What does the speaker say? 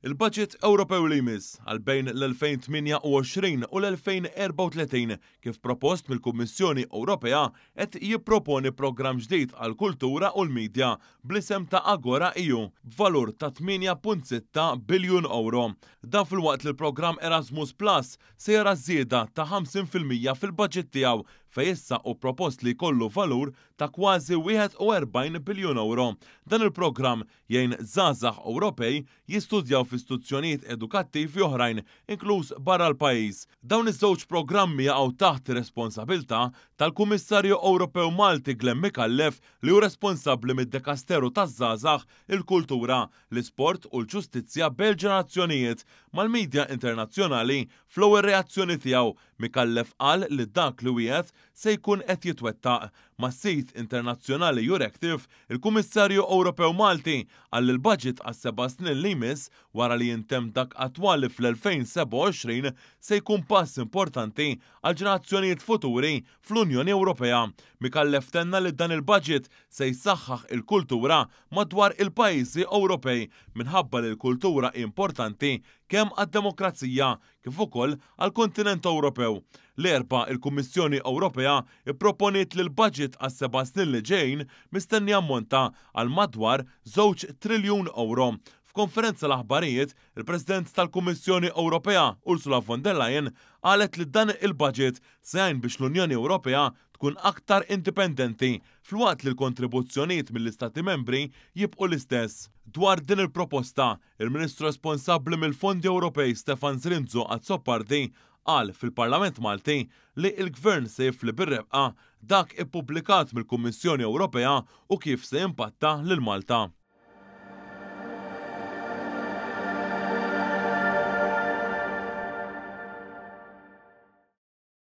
Il-Baġit Ewropew li jmiss għal bejn l-2028 u l-2034, kif propost mill-Kummissjoni Ewropea, qed jipproponi programm ġdid għall-kultura u l-midja bl-isem ta' AgoraEU b'valur ta' 8.6 biljun ewro. Dan filwaqt li l-programm Erasmus Plus se jara żieda ta' 50 fil-mija fil-baġit tiegħu fejn issa hu propost li jkollu valur ta' kważi 41 biljun ewro. Dan il-programm Jgħin żgħażagħ Ewropej jistudjaw fi stuzzjonijiet edukattivi oħrajn inkluż barra l-pajjiż. Dawn iż-żewġ programmi jaqgħu taħt ir-responsabilità tal-Kummissarju Ewropew Malti Glen Micallef li hu responsabbli mid-Dekasteru taż-Żgħażagħ, il-Kultura, l-Isport u l-Ġustizzja bejn il-ġenerazzjonijiet. Mal-midja internazzjonali, fl-ewwel reazzjoni tiegħu, Micallef qal li dak li wiegħed, se jkun qed jitwettaq. Mas-sit internazzjonali Euractiv, il-Kummissarju Ewropew Malti qal li l-baġit għas-seba' snin li jmiss wara li jintemm dak attwali fl-2027 se jkun pass importanti għall-ġenerazzjonijiet futuri fl-Unjoni Ewropea. Micallef tenna li dan il-baġit se jsaħħaħ il-kultura madwar il-pajjiżi Ewropej minħabba li l-kultura hi importanti kemm għad-demokrazija kif ukoll għall-kontinent Ewropew. L-Erbgħa, il-Kummissjoni Ewropea pproponiet li l-baġit għas-seba' snin li ġejjin mistenni jammonta għal madwar żewġ triljun ewro. F'konferenza l-aħbarijiet, il-President tal-Kummissjoni Ewropea, Ursula von der Leyen, qalet li dan il-baġit se jgħin biex l-Unjoni Ewropea tkun aktar indipendenti filwaqt li l-kontribuzzjonijiet mill-Istati Membri jibqgħu l-istess. Dwar din il-proposta, Il-Ministru responsabbli mill-Fondi Ewropej Stefan Zrinzo Azzopardi qal fil-Parlament Malti li l-Gvern se jifli bir-rebqa dak ippubblikat mill-Kummissjoni Ewropea u kif se jimpatta lil Malta.